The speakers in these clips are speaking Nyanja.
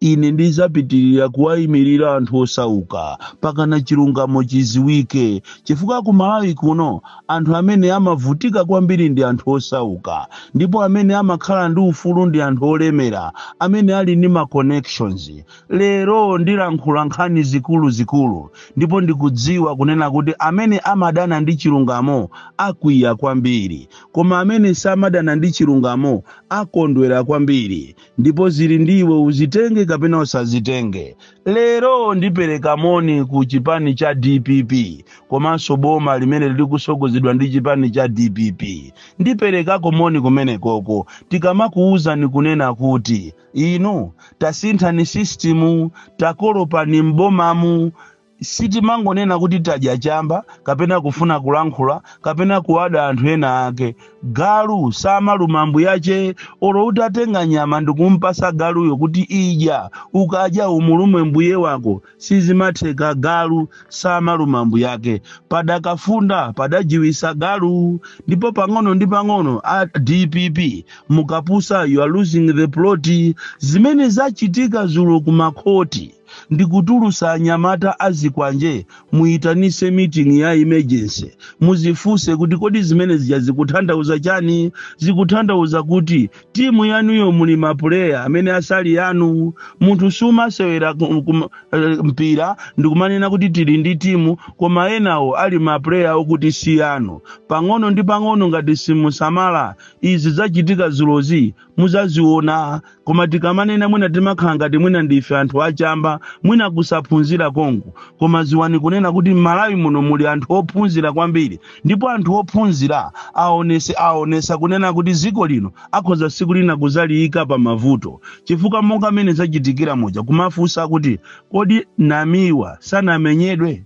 Ine ndidzapitirira kuwayimirira anthu osauka pakana chilungamo chiziwike chifukwa ku Malawi kuno anthu amene amavutika kwambiri ndi anthu osauka ndipo amene amakhala ndi ufulu ndi anthu olemera amene ali ndi ma connections. Lero ndilankhula nkhani zikuluzikulu ndipo ndikudziwa kunena kuti amene amadana ndi chilungamo akwiya kwambiri koma amene samadana ndi chilungamo akondwera kwambiri. ndipo zili ndi iwe uzitenge kapena usazitenge lero ndipereka moni ku chipani cha dpp komanso boma limene lili kusogozedwa ndi chipani cha dpp ndiperekako moni kumenekoko tikamakuwuzani kunena kuti inu tasinthani sistimu takolopani m'bomamu Sitimangonena kuti tadya chamba kapena kufuna kulankhula kapena kuwada anthu ena ake. Galu samaluma mbuyache olo utatenga nyama ndikumpasa galuyo kuti idya ukadya umulume mbuye wako sizimatheka galu samaluma mbuyake. Padakafunda padajiwisa galu ndipo pang'ono ndi pang'ono a dpp mukapusa you are losing the plot zimene zachitika zulo kumakhoti. ndikutulusa anyamata azikwanje muyitanise meeting ya emergency muzifuse kuti kodi zimene zija zikuthandauza chani zikuthandauza kuti timu yanuyo muli mapuleya amene asali yanu munthu sumasewera mpira ndikumanena kuti tili ndi timu koma enawo ali mapuleya okuti si yanu pang'ono ndi pang'ono ngati simusamala izi zachitika zulozi muzaziona koma tikamanena mwina timakhala ngati mwina ndife anthu achamba mwina kusaphunzira konko koma ziwani kunena kuti m'malawi muno muli anthu ophunzira kwambiri ndipo anthu ophunzira aonese aonesa kunena kuti ziko lino akhoza siku lina kuzaliyika pa mavuto chifukwa monga mmene zachitikira muja kumafunsa kuti kodi namiwa sanamenyedwe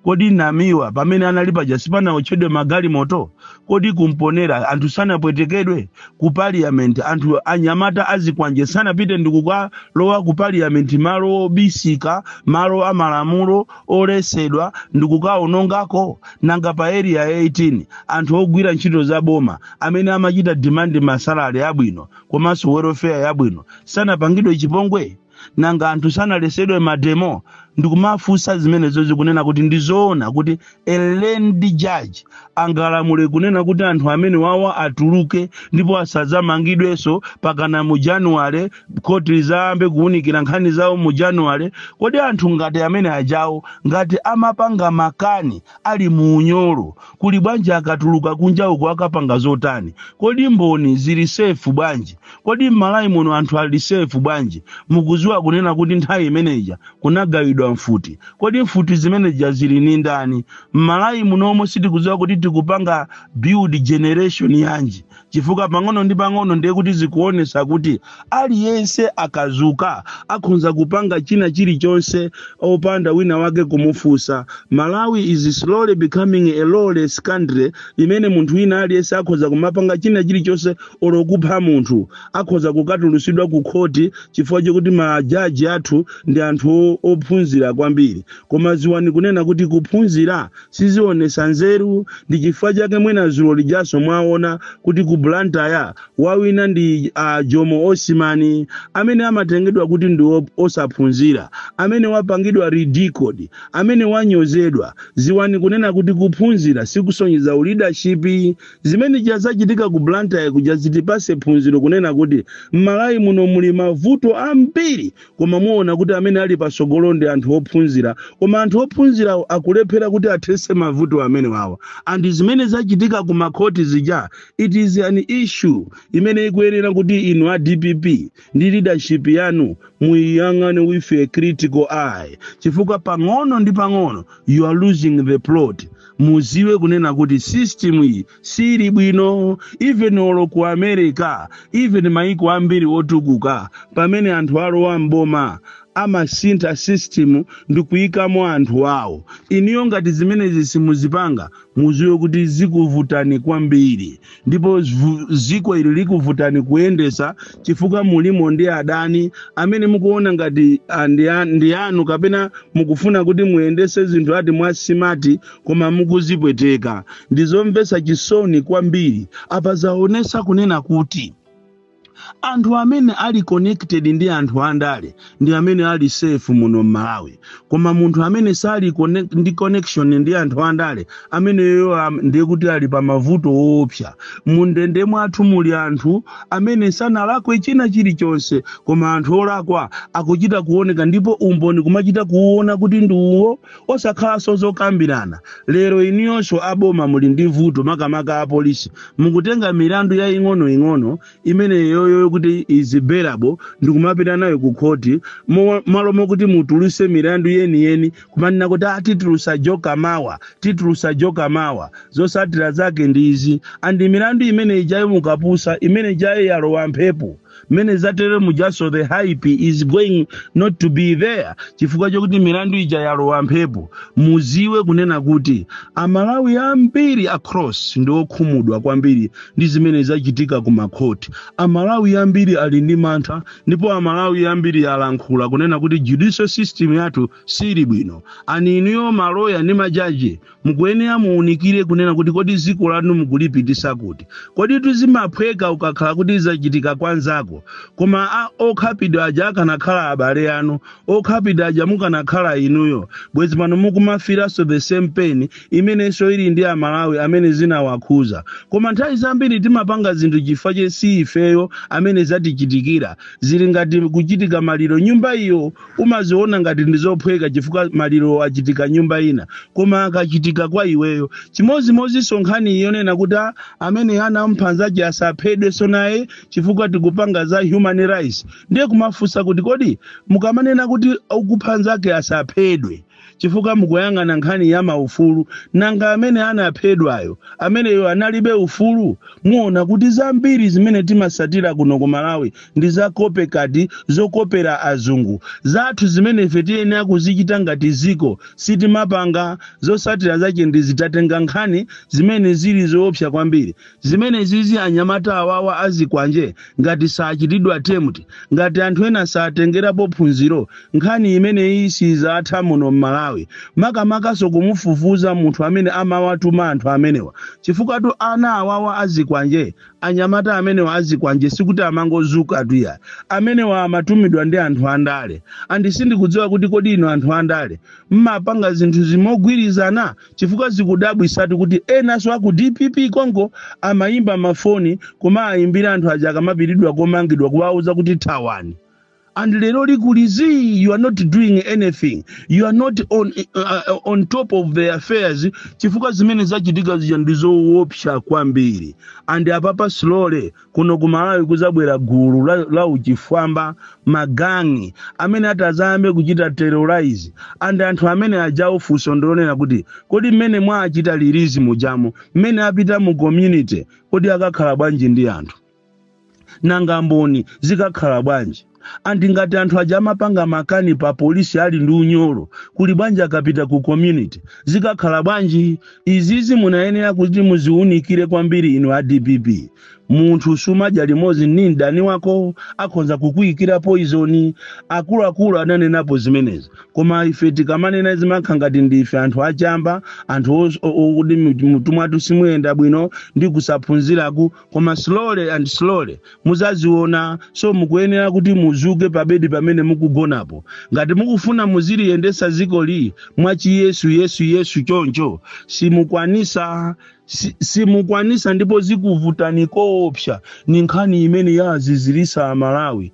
kodi namiwa pamene anali paja sipanawotchedwe magalimoto kodi ku Mponela anthu sanapwetekedwe ku parliament anthu anyamata azikwanje sanapite ndikukalowa ku parliament malo obisika malo amalamulo olesedwa ndikukaonongako nanga pa area 18 anthu ogwira ntchito za boma amene amachita demand masalari abwino komanso welfare yabwino sanapangidwe chipongwe nanga anthu sanalesedwe mademo ndikumafunsa zimenezozi kunena kuti ndizoona kuti a learned judge angalamule kunena kuti anthu amene wawa atuluke ndipo asadzamangidwenso pakana mu januwale khoti izayambe kuwunikira nkhani zawo mu januwale kodi anthu ngati amene ajawo ngati amapanga makani ali mu unyolo kuli bwanji akatuluka kunja uko akapanga zotani kodi mboni zili safe bwanji kodi m'malawi muno anthu ali safe bwanji mukuziwa kunena kuti nthawi imeneja kunagawidwa mfuti kodi mfuti zimeneja zili ni ndani m'malawi munomo sitikuziwa kuti tikupanga build generation yanji chifukwa pang'ono ndi pang'ono ndiye kuti zikuonesa kuti aliyense akazuka akhonza kupanga china chilichonse opanda wina wake kumufunsa malawi is slowly becoming a lawless country imene munthu wina aliyense akhonza kumapanga china chilichonse olo kupha munthu akhonza kukatulusidwa ku khoti chifukwa chokuti majaji athu ndi anthu o- ophunzira kwambiri koma ziwani kunena kuti kuphunzira sizionesa nzeru ndi chifukwa chake mwina zulo lijaso mwaona kuti ku blantyre wawina ndi uh, jomo osman amene amatengedwa kuti ndi op- osaphunzira amene wapangidwa ridiculed amene wanyozedwa ziwani kunena kuti kuphunzira sikusonyeza uleadership zimene zachitika ku blantyre kuja zitipase phunziro kunena kuti m'malawi muno muli mavuto ambiri koma muona kuti amene ali patsogolo ndi anthu ophunzira koma anthu ophunzira akulephera kuti athetse mavuto amenewawa and zimene zachitika ku makhoti zija it is an issue imene ikuyenera kuti inu a dpp ndi leadership yanu muiyang'ane with a critical eye chifukwa pang'ono ndi pang'ono you are losing the plot muziwe kunena kuti system iyi siili bwino even olo ku america even maiko ambiri otukuka pamene anthu alowa mboma amasintha system ndi kuyikamo anthu awo inuyo ngati zimenezi simuzipanga muziwe kuti zikuvutani kwambiri ndipo zvu- ziko ili likuvutani kuyendesa chifukwa mulimo ndi adani amene mukuona ngati ah, ndi a- ndi anu kapena mukufuna kuti muyendese zinthu ati mwasimati koma mukuzipweteka ndi zomvetsa chisoni kwambiri apa zaonesa kunena kuti anthu amene ali connected ndi anthu andale ndi amene ali safe muno m'malawi koma munthu amene sali connect, ndi connection ndi anthu andale ameneyo am- ndiye kuti ali pa mavuto oopsa mundende mwathu muli anthu amene sanalakwe china chilichonse koma anthu olakwa akuchita kuoneka ndipo umboni kumachita kuuona kuti ndi uwo Osakhalanso zokambirana, lero inuyonso a boma muli ndi vuto makamaka a polisi, mukutenga milandu yaying'ono ing'ono imeneyoyo yokuti is bailable ndikumapita nayo ku khoti mo- malo mokuti mutuluse milandu yeniyeni kumanena kuti ah, titulusa joker mawa titulusa joker mawa zosatira zake ndi izi and milandu imene ijayo mukapusa imene ijayo yalowa mphepo mmene zatere mujanso the hype is going not to be there chifukwa chokuti milandu ija yalowa mphepo muziwe kunena kuti amalawi ambiri across ndi okhumudwa kwambiri ndi zimene zachitika ku makhoti amalawi ambiri ali ndi mantha ndipo amalawi ambiri alankhula kunena kuti judicial system yathu sili bwino and inuyo maloya ndi majaji mukuyenera muunikire kunena kuti kodi dziko lanu mukulipitisa kuti kodi tu zimaphweka ukakhala kuti zachitika kwanzako koma a- okhapidwa aja akanakhala abale anu okhapidwa aja mukanakhala inuyo bwezi pano mukumva filanso the same pain imenenso ili ndi amalawi amene zinawakhuza koma nthawi zambiri timapanga zinthu chifukwa che si ifeyo amene zatichitikira zili ngati kuchitika maliro nyumba iyo Umaziona ngati ndi zophweka chifukwa malirowo achitika nyumba ina, koma akachitika kwa iweyo. Chimodzimodzinso nkhani yonena kuti a amene anamupha nzache asaphedwenso naye chifukwa tikupanga za human rights, ndiye kumafunsa kuti kodi mukamanena kuti okupha nzake asaphedwe, chifukwa mukuyang'ana nkhani ya maufulu nanga amene anaphedwayo ameneyo analibe ufulu muona kuti zambiri zimene timasatira kuno ku malawi ndi za copycat zokopera azungu zathu zimene ife tiyenera kuzichita ngati ziko sitimapanga zosatira zache ndizi tatenga nkhani zimene zili zoopsa kwambiri zimene izizi anyamata awawa azikwanje ngati sachitidwa tame ngati anthu ena satengerapo phunziro nkhani imeneyi sizatha muno mmalawi makamakaso kumufufuza munthu amene amawatuma anthu amenewa chifukwatu ana awawa azikwanje anyamata amenewa azikwanje sikuti amangozukatu iya amenewa amatumidwa ndi anthu andale and sindikudziwa kuti kodi inu anthu andale mmapanga zinthu zimogwirizana chifukwa zikudabwisatu kuti enanso aku dpp konko amayimba mafoni kumawayimbira anthu aja akamapitilidwa komangidwa kuwauza kuti thawani and lero aku release you are not doing anything you are not on, uh, on top of the affairs chifukwa zimene zachitika zija ndi zoopsa kwambiri and apapa slowly kuno ku malawi kuzabwera gulu la, la uchifwamba magangi amene atazayambe kuchita terrorize and anthu amene ajawo funso ndi lonena kuti kodi mmene mwaachita release mujamo mmene apita mu community kodi akakhala bwanji ndi anthu nanga mboni zikakhala bwanji and ngati anthu aja amapanga makani pa polisi ali ndi unyolo kuli bwanji akapita ku community zikakhala bwanji izizi munayenera kuti muziunikire kwambiri inu a dpp munthu sumadya limodzi ndi mdani wako akhonza kukuyikira poizoni akuluakulu ananenapo zimenezi koma ife tikamanena zimakha ngati ndi ife anthu achamba anthu os- o- o- kuti m'mutu mwathu simuyenda bwino ndi kusaphunziraku koma slowly and slowly muzaziona so mukuyenera kuti muzuke pabedi pamene mukugonapo ngati mukufuna muziliyendesa ziko li mwa chi Yesu Yesu Yesu choncho simukwanisa si- simukwanisa ndipo zikuvutani koopsa ni nkhani imene yazizilisa amalawi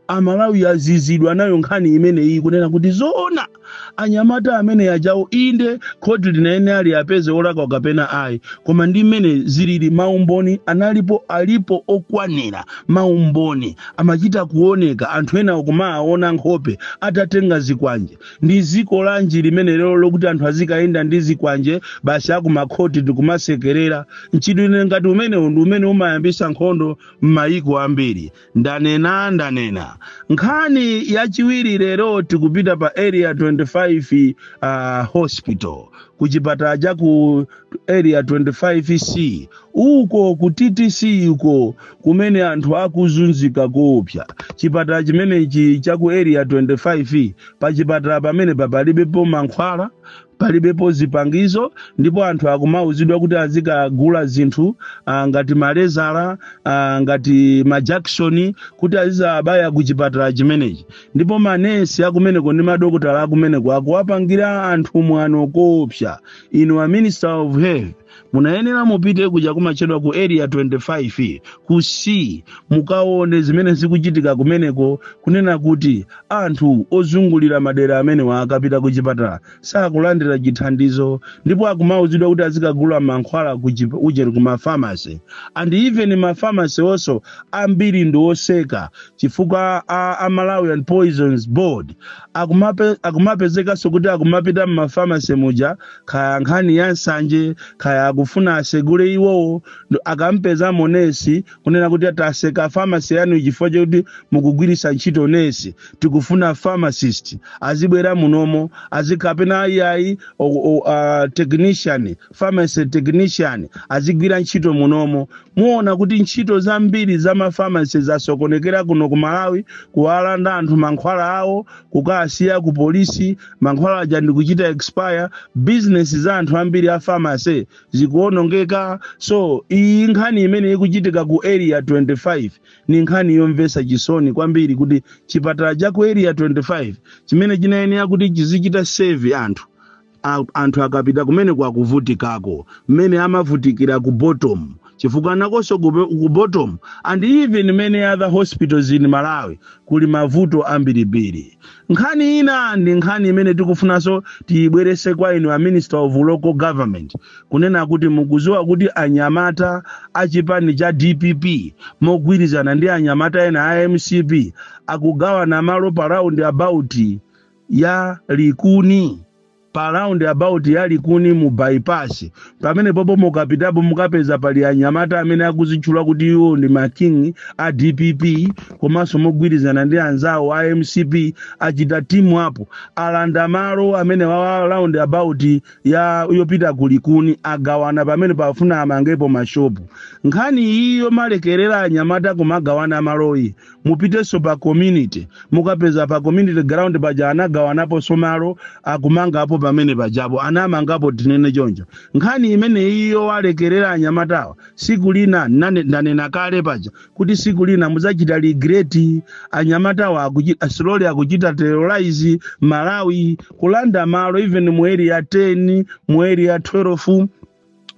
amalawi azizidwa nayo nkhani imeneyi kunena kuti zoona anyamata amene ajawo inde khoti linanena liwapeze olakwa kapena ayi koma ndi mmene zilili maumboni analipo alipo okwanira maumboni amachita kuoneka anthu ena akumaona nkhope atatenga zikwanje ndi ziko lanji limenelo lokuti anthu azikayenda ndi zikwanje basi akumakhoti ndikumasekerera mchitidwe ngati umenewo ndi umene umayambisa nkhondo m'mayiko ambiri ndanena ndanena nkhani yachiwiri lero tikupita pa area 25 uh, hospital ku chipatala cha ku area 25c uko ku ttc uko kumene anthu akuzunzika koopsya chipatala chimenechi cha ku area 25 pa chipatala pamene pa palibepo mankhwala palibepo zipangizo ndipo anthu akumauzidwa kuti azikagula zinthu ah, ngati malezala ah, ngati majakisoni kuti azizabaya ku chipatala chimenechi ndipo manesi akumeneko ndi madokotala akumeneko akuwapangira anthu mwano koopsa inu a minister of health munayenera mupite kuja kumatchedwa ku area 25 ku c mukaone zimene zikuchitika kumeneko kunena kuti anthu ozungulira madera amenewa akapita ku chipatala sakulandira chithandizo ndipo akumauzidwa kuti azikagula mankhwala ku chip- ujeni ku mafamasi and even mafamasi onso ambiri ndi oseka chifukwa a, a Malawian poisons board akumape, akumapezekanso kuti akumapita m'mafamasi muja kaya nkhani ya nsanje kaya akufuna asegule iwowo akampezamo nesi kunena kuti taseka famasi yanu chifukwa chakuti mukugwiritsa ntchito nesi tikufuna pharmacist azibwera munomo azikapena ayiayi uh, technician pharmacy technician azigwira ntchito munomo Muona kuti ntchito zambiri za ma pharmacy zasokonekera kuno ku Malawi, kuwalanda anthu mankhwala awo, kukasiya ku polisi, mankhwala aja ndi kuchita expire, business za anthu ambiri a pharmacy zikuonongeka. So iyi nkhani imene ikuchitika ku area 25 ni nkhani yomvesa chisoni kwambiri kuti chipatala cha ku area 25 chimene chinayenera kuti chizichita serve anthu a, anthu akapita kumene kwakuvutikako mmene amavutikira ku bottom chifukwa nakonso ku, ku bottom and even many other hospitals in malawi kuli mavuto ambirimbiri nkhani ina ndi nkhani imene tikufunanso tiyibweretse kwa inu a minister of local government kunena kuti mukuziwa kuti anyamata a chipani cha dpp mogwirizana ndi anyamata ena a mcp akugawana malo pa round about ya likuni pa round about ya likuni mu bypass pamenepopo mukapitapo mukapeza pali anyamata amene akuzitchula kuti iwo ndi ma king a dpp komanso mogwirizana ndi anzawo a mcp achita timu apo alanda malo amene wa round about ya yopita ku likuni agawana pamenepa afuna amangepo mashopu nkhani iyi yomalekerera anyamata kumagawana maloyi mupitenso pa community mukapeza pa community ground paja anagawanaponso malo akumangapo pamenepajapo anamangapo tinene choncho nkhani imeneyi yowalekerera anyamatawa siku lina ndanena kale paja kuti siku lina mudzachita regret anyamatawa akuchi- slowly akuchita terrorize malawi kulanda malo even mu area 10 mu area 12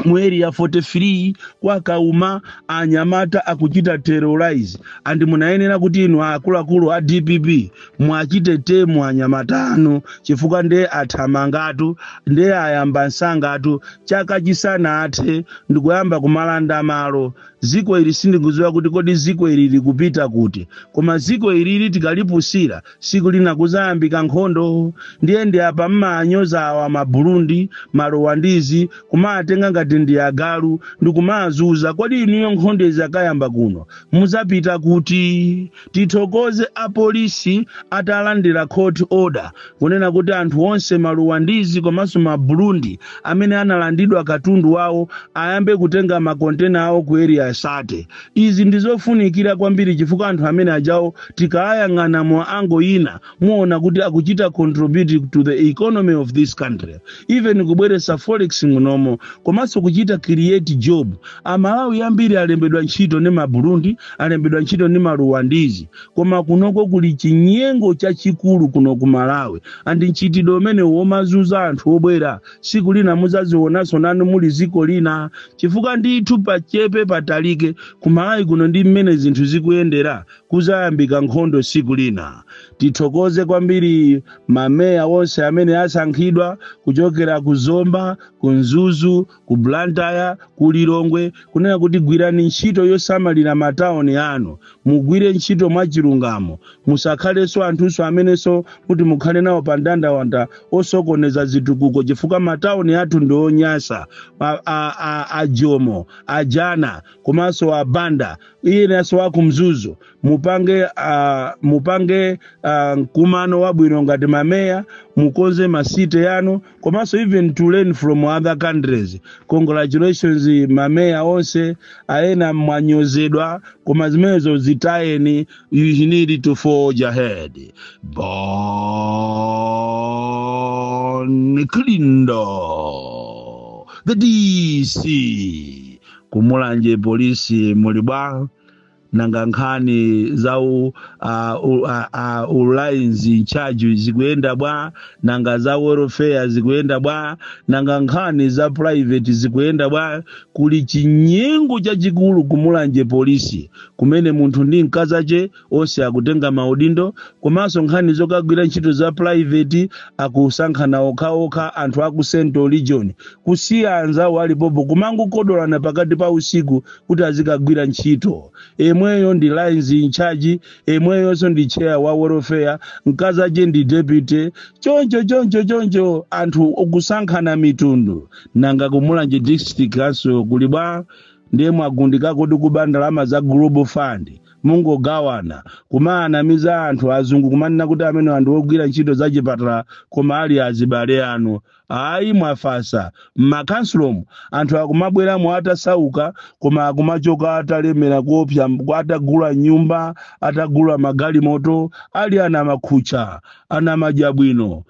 mu area 43 kwa kauma anyamata akuchita terrorize and munayenera kuti inu akuluakulu a dpp muwachite tame anyamata anu chifukwa ndiye athamangatu ndiye ayamba msangatu chaka chisanathe n'kuyamba kumalanda malo ziko ili sindikuziwa kuti kodi ziko ili likupita kuti koma ziko ilili tikalipusira siku lina kuzayambika nkhondo ndiye ndi apa mmawanyoza awa maburundi maruwandizi kumawatenga ngati ndi agalu ndi kumawazunza kodi inuyo nkhondo izakayamba kuno muzapita kuti tithokoze apolisi atalandira court order kunena kuti anthu onse maruwandizi komanso maburundi amene analandidwa katundu wawo ayambe kutenga makontena awo ku area 30 Izi ndi zofunikira kwambiri chifukwa anthu ameneajawo tikawayang'ana mu angle ina muona kuti akuchita contribute to the economy of this country even kubweretsa forex munomo komanso kuchita create job amalawi ambiri alembedwa ntchito ndi maburundi alembedwa ntchito ndi maruwandizi koma kunoko kuli chinyengo chachikulu kuno ku malawi and mchitidwe umenewu womazunza anthu obwera tsiku lina mudzazionanso nanu muli dziko lina chifukwa ndithu pachepa patalika kumalawi kuno ndi mmene zinthu zikuyendera kuzayambika nkhondo tsiku lina tithokoze kwambiri mameya onse amene asankhidwa kuchokera ku zomba ku mzuzu ku blantyre ku lilongwe kunena kuti gwirani ntchito yosamalira matauni anu mugwire ntchito mwachilungamo musakhalenso anthunso amenenso kuti mukhale nawo pa ndandanda osokoneza zitukuko chifukwa matauni athu ndi onyasa a- a- a- ajomo ajana komanso abanda iyenso wa ku Mzuzu mupange ah, mupange ah, mkumano wabwino ngati mameya mukonze masite yanu komanso even to learn from other countries congratulations mameya onse aena mwanyozedwa koma zimenezo zitayeni You need to forge ahead. Bon Kalindo, the DC. Kumulanje polisi muli bwa nanga nkhani za u, uh, u, uh, uh, u lines in charge zikuyenda bwa nanga za welfare zikuyenda bwa nanga nkhani za private zikuyenda bwa kuli chinyengo chachikulu kumulanje polisi kumene munthu ndi mkazache onse akutenga maudindo komanso nkhani zokagwira ntchito za private akusankhana okhaokha anthu aku central region kusiya anzawo alipopo kumangokodolana pakati pa usiku kuti azikagwira ntchito emweyo ndi lines in charge emweyonso ndi chair wa welfare mkazache ndi deputy choncho choncho choncho anthu akusankhana mitundu nanga kumulanje district khanso kuli bwa ndiye mwagundikako ndi kuba ndalama za global fund mungogawana kumaanamiza anthu azungu kumanena kuti amenewa ndi ogwira ntchito za chipatala koma ali azibale anu ayi mwafasa mmakhansolomu anthu akumabweramo atasauka koma akumachoka atalemera kuopsa mb- atagula nyumba atagula magalimoto ali anamakhutcha anamadyabwino